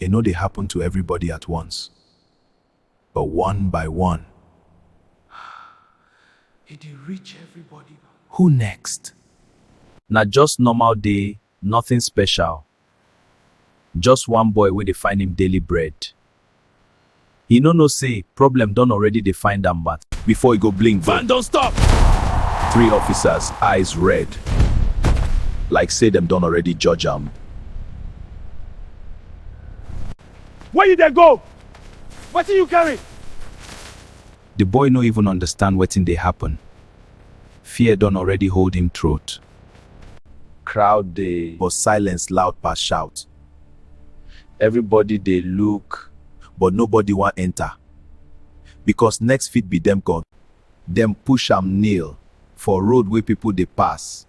E no dey happen to everybody at once, but one by one. E dey reach everybody na. Who next? Na just normal day, nothing special. Just one boy wey dey find im daily bread. He no know say problem don already dey find am but. Before e go blink van don stop! Three officers eyes red like say dem don already judge am. Where you dey go? Wetin you carry? The boy no even understand wetin dey happen, fear don already hold him throat. Crowd dey but silence loud pass shout. Everybody dey look but nobody wan enter because next fit be dem gon. Dem push am kneel for road wey people dey pass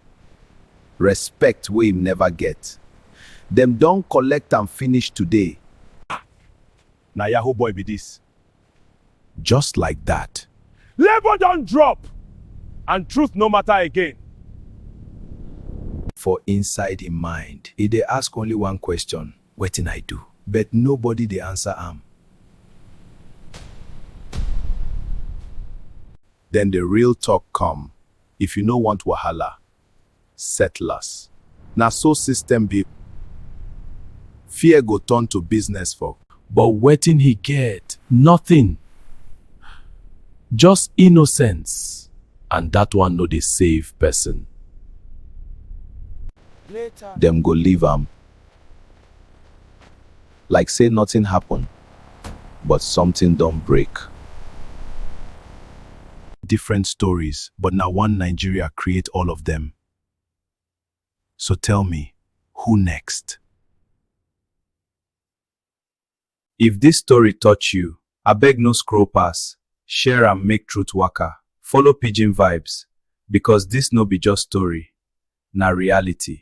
respect wey im never get dem don collect am finish today. Ah! Na yahoo boy be this. Just like that. Labor don drop and truth no matter again. For inside him mind, he dey ask only one question, Wetin I do? But nobody dey answer am. Then the real talk come, If you no want wahala, settlers. Na so system be fear go turn to business for. But wetin he get? Nothing! Just innocence and that one no dey save person. Dem go leave am. Like say nothing happen but something don break. Different stories but na one Nigeria create all of them. So tell me, who next? If this story touch you, abeg no scroll pass, share am make truth waka, follow pidgin vibes because this no be just story, na reality.